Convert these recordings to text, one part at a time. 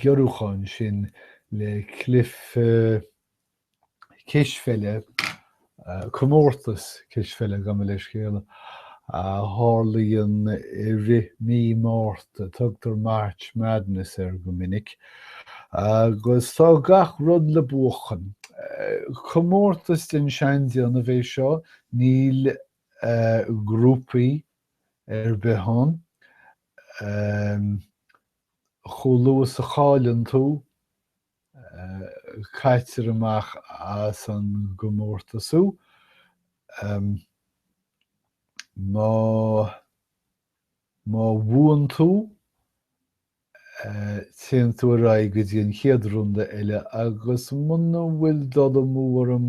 ghiorrúcháin sin le cluiche cispheile, comórtas cispheile gabh mo leithscéal, a tharlaíonn i rith mí Márta, tugtar March Madness air go minic, agus tá gach rud le buachan. Comórtas den seandéanamh é seo, níl grúpaí ar bith ann, amh, chomh luath is a chailleann tú, amh, caitear amach as an gcomórtas thú, amh, má, má bhuann tú, amh, téann tú ar aghaidh go dtí an chéad runda eile agus muna bhfuil dul amú orm,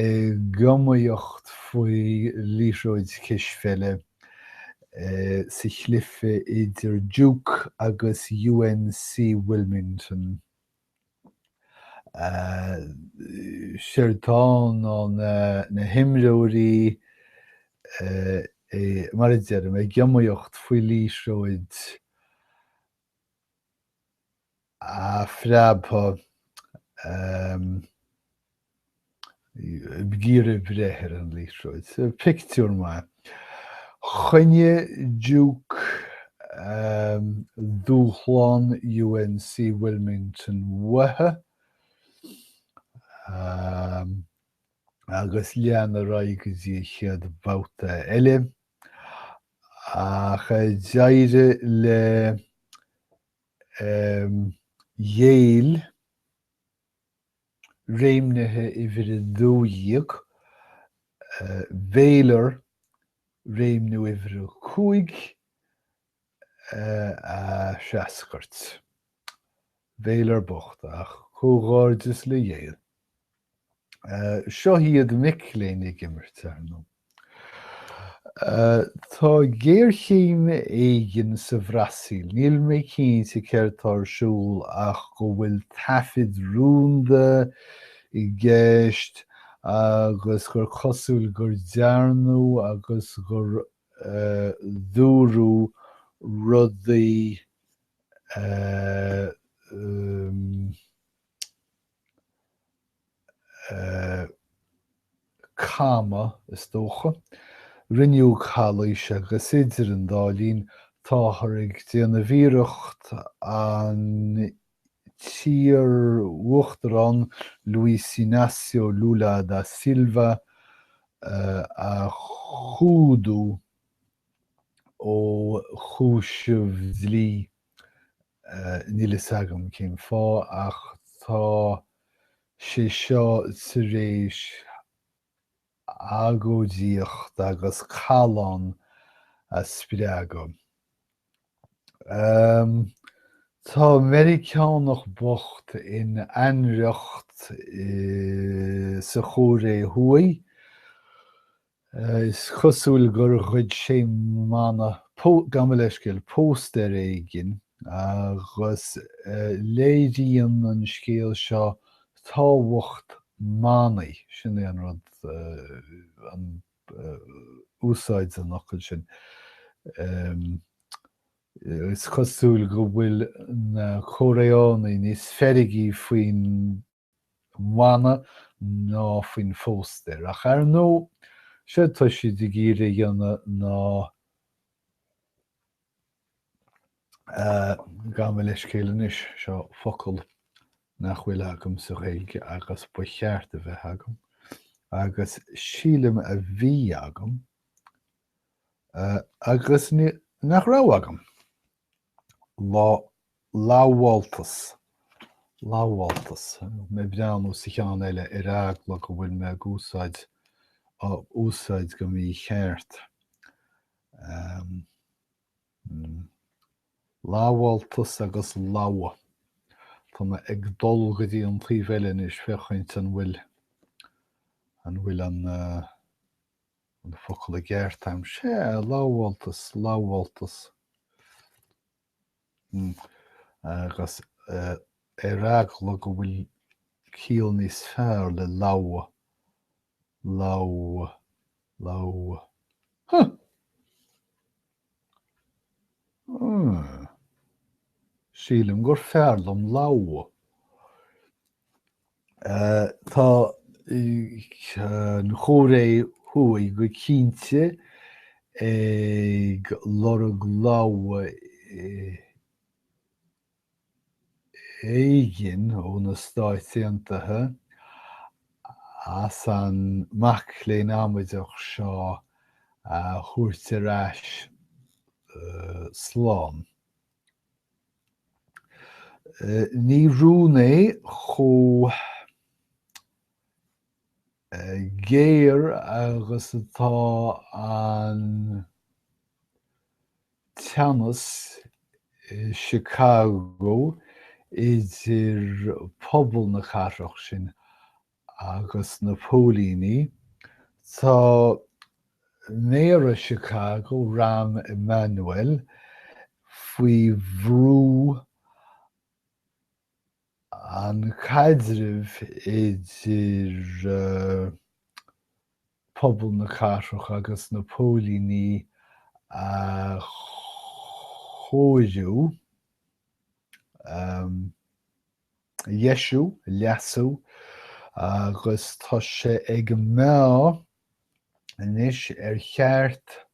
Ag iomaíocht faoi liathróid cispheile sa chluife idir Duke agus UNC Wilmington. Séard atá ann ná na himreoirí, mar a deirim, ag iomaíocht faoi liathróid. a phreabtha ag iarraidh breith ar an liathróid. Pictiúr maith. Choinnigh Duke dúshlán UNC Wilmington uathu agus lean ar aghaidh go dtí an chéad bhabhta eile ach d'éirigh le Yale réimnithe uimhir a dó dhéag, Baylor, réimniú uimhir a cúig a threascairt. Baylor bocht, ach comhghairdeas le Yale. Seo iad mic léinn ag imirt, ar ndóigh. Tá géarchéim éigin sa Bhrasaíl, níl mé cinnte céard tá ar siúl ach go bhfuil taifid rúnda i gceist agus gur cosúil gur dearnadh agus gur dúradh rudaí cama, is dócha. Rinneadh calaois agus idir an dá linn táthar ag déanamh iarracht an t-iar-uachtarán Luiz Inácio Lula da Silva a chumhdú ó chúiseamh dlí. Níl fhios agam cén fáth ach tá sé seo tar éis agóidíocht agus callán a spreagadh. Tá Meiriceánach bocht in ainriocht sa Chóiré Thuaidh Is cosúil gur ghoid sé mana, gabh mo leithscéal, póstaer éigin agus léiríonn an scéal seo tábhacht manaí, sin é an rud, an úsáid an fhocail sin. Is cosúil go bhfuil na Cóiréánaigh níos feirgí faoin. mana ná faoin phóstaer. Ach ar ndóigh, séard atá siad ag iarraidh a dhéanamh ná gabh mo leithscéal anois, seo focal nach bhfuil agam sa Ghaeilge agus ba cheart a bheith agam agus sílim a bhí agam agus nach raibh agam. lamháltas, lamháltas, mé ag breathnú sa cheann eile ar eagla go bhfuil mé ag úsáid, á úsáid go mícheart, lamháltas agus logha, tá mé ag dul go dtí an taobh eile anois féachaint an bhfuil, an bhfuil an. an focal i gceart a'm? Sea, lamháltas, lamháltas. Mm. Agus eh, ar eagla go bhfuil ciall níos fearr le logha, logha, logha. Huh! Sílim gur fearr liom logha. Tá an Chóiré Thuaidh go cinnte ag lorg logha. éigin ó na Stáit Aontaithe as an mac léinn amaideach seo a thabhairt ar ais slán. Ní rún é chomh. géar agus atá an teannas i Chicago idir pobal na cathrach sin agus na póilíní. Tá Méara Chicago, Rahm Emanuel, faoi bhrú an caidreamh idir pobal na cathrach agus na póilíní a chóiriú, a dheisiú, a leasú agus tá sé ag meá anois ar cheart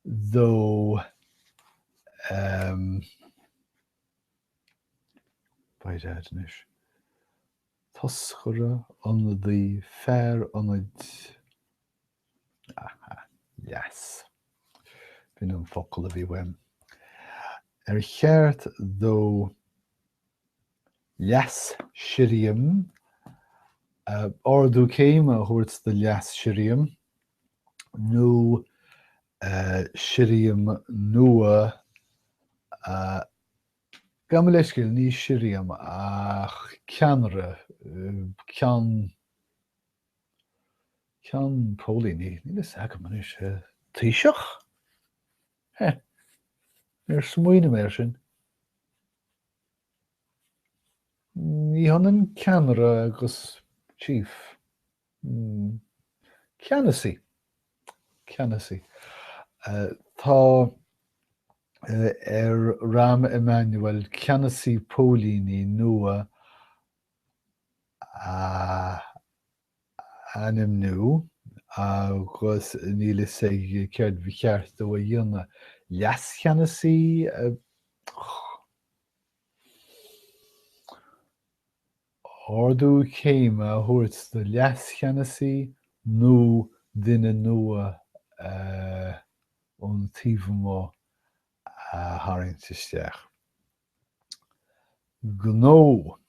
dó Toscaire, ionadaí, fear ionaid, á, leas, b'in an focal a bhí uaim, ar cheart dó leas-sirriam, ardú céime a thabhairt do leas-sirriam nó sirriam nua Gabh mo leithscéal, ní sirriam ach ceannaire, ceann, ceann póilíní, níl a fhios agam anois, taoiseach? Heh, níor smaoinigh mé air sin. Ní hionann ceannaire agus chief. Ceannasaí, ceannasaí. Tá ar Rahm Emanuel ceannasaí póilíní nua a ainmniú agus níl a fhios aige céard ba cheart dó a dhéanamh. Leascheannasaí, ardú céime a thabhairt do leascheannasaí nó duine nua ón taobh amuigh a tharraingt isteach. Gnó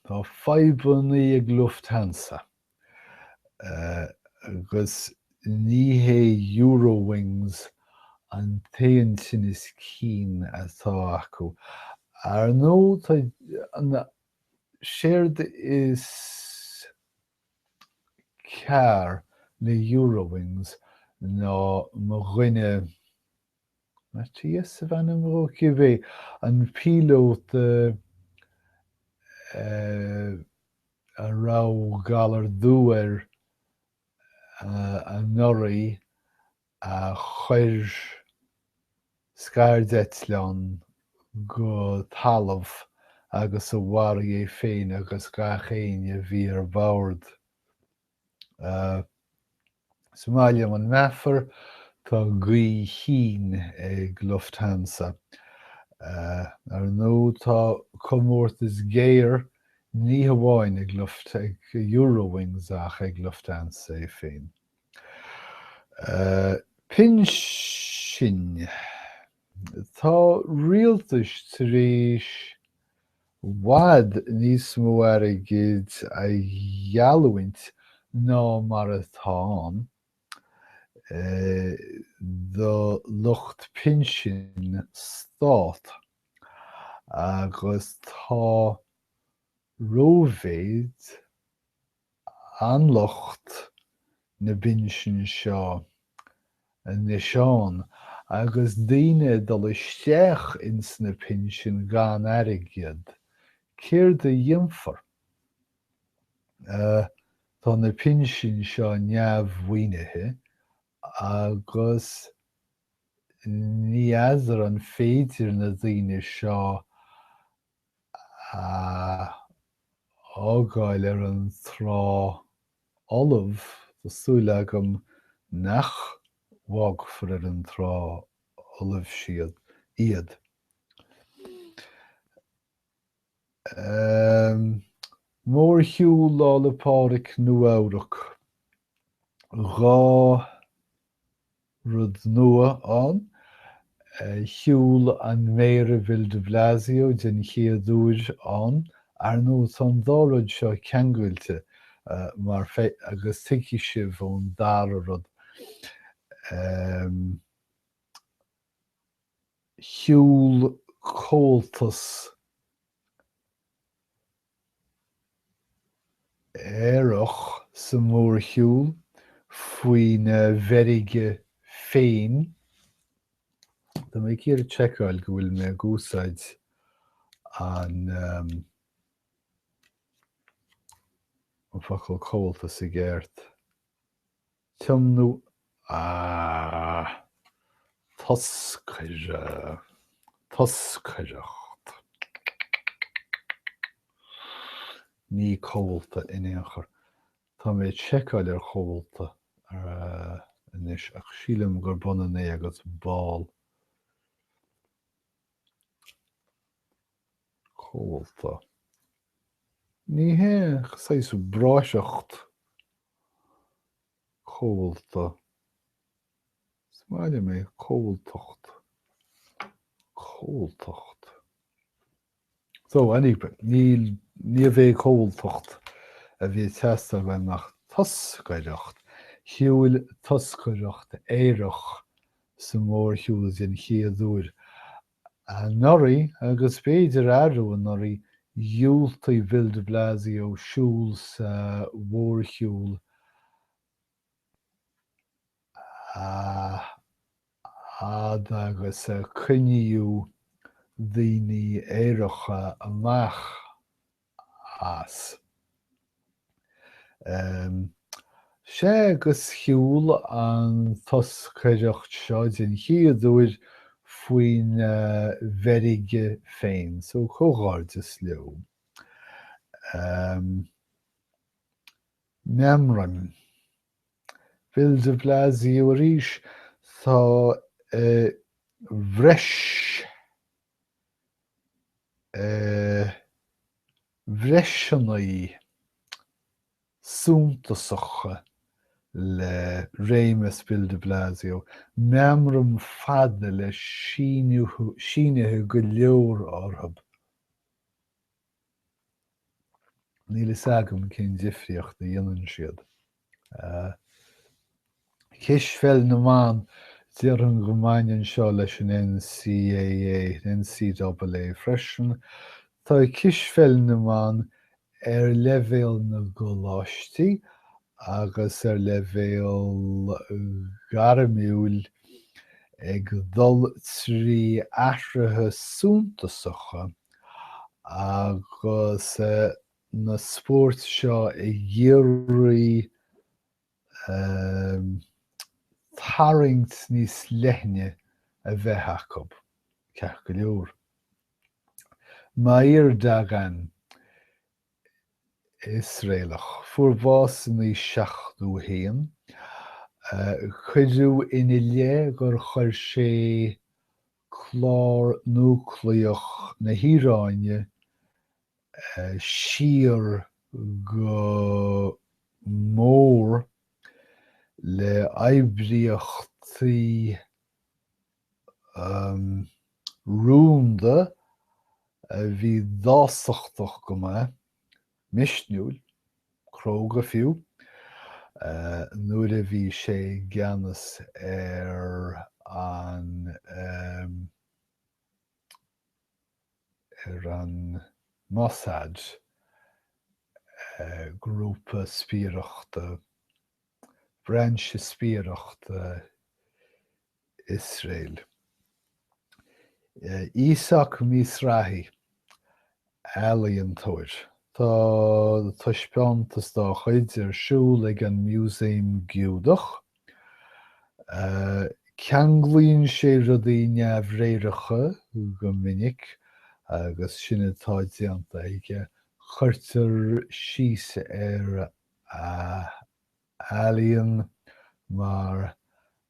Tá fadhbanna ag Lufthansa agus ní hé Eurowings an t-aon tinneas cinn atá acu. Ar ndóigh, tá Séard is cearr le Eurowings ná mo dhuine, Matthias ab ainm dhó, cibé, an píolóta a raibh galar dubh air anuraidh, a chuir scairdeitleán go talamh agus a mharaigh é féin agus gach éinne a bhí ar bord. Is maith liom an meafar, tá gaoth chinn ag Lufthansa. Ar ndú tá comórtas géar ní hamháin ag Luft, ag Eurowings ach ag Lufthansa é féin. Pinsin. Tá rialtais tar éis i bhfad níos mó airgid a gheallúint ná mar atá ann do lucht pinsin stát agus tá rómhéid, an lucht na pinsin seo anois ann agus daoine ag dul isteach ins na pinsin gan airgead, céard a dhéanfar? Tá na pinsin seo neamh-mhaoinithe agus ní fheadar an féidir na daoine seo a fhágáil ar an trá fholamh, tá súil agam nach bhfágfar ar an trá fholamh siad, iad. Aaa. Mórshiúl Lá 'le Pádraig Nua-Eabhrac, dhá. rud nua ann. Shiúl an Méara Bill de Blasio den chéad uair ann. Ar ndóigh, tá an dá rud seo ceangailte mar agus tuigfidh sibh ón dara rud. Shiúl Comhaltas. aerach sa mhórshiúl faoina mheirge féin. Tá mé ag iarraidh seiceáil go bhfuil mé ag úsáid an focal comhaltas i gceart. Tiomnú A, Toscaire, Toscaireacht Ní comhalta in aon chor. Tá mé ag seiceáil ar chomhalta anois ach sílim gurb ionann é agus ball. chomhalta. Ní hé saghas bráithreacht chomhalta, is maith liom é, comhaltacht, comhaltacht. So, anyway, níorbh é comhaltacht a bhí ag teastáil uainn ach toscaireacht, shiúil toscaireacht aerach sa mhórshiúl den chéad uair Anuraidh, agus b'fhéidir arú anuraidh, dhiúltaigh Bill de Blasio siúl sa mhórshiúl a fhad agus a coinníodh daoine aeracha amach. as. Sea, agus shiúil an toscaireacht seo den chéad uair faoina mheirge féin, so comhghairdeas leo. Meamram. Bill de Blasio arís, tá a bhreis. bhreiseanna suntasacha le réimeas Bill de Blasio, meamraim fada le sínithe go leor orthu. Níl a fhios agam cén difríocht a dhéanann siad. Cispheil na mBan, déarfainn go mbaineann seo leis an NCAA, NCAA freisin. Tá cispheil na mban ar leibhéal na gcoláistí agus ar leibhéal gairmiúil ag dul trí athruithe suntasacha agus na spóirt seo i gCiarraí tarraingt níos leithne a bheith acu, ceart go leor. Meir Dagan, Iosraelach, fuair bás in aois 71. Cuireadh ina leith gur chuir sé clár núicléach na hIaráine siar go mór le hoibríochtaí rúnda a bhí dásachtach go maith misniúil, cróga fiú, nuair a bhí sé i gceannas ar an ar an Mossad, grúpa spiaireachta, brainse spiaireachta Iosrael. Íosác Mizrahi, ealaíontóir. Tá taispeántas dá chuid ar siúl ag an Musaem Giúdach. Ceanglaíonn sé rudaí neamhréireacha go minic agus sin atá déanta aige, cuirtear síos ar a ealaíon mar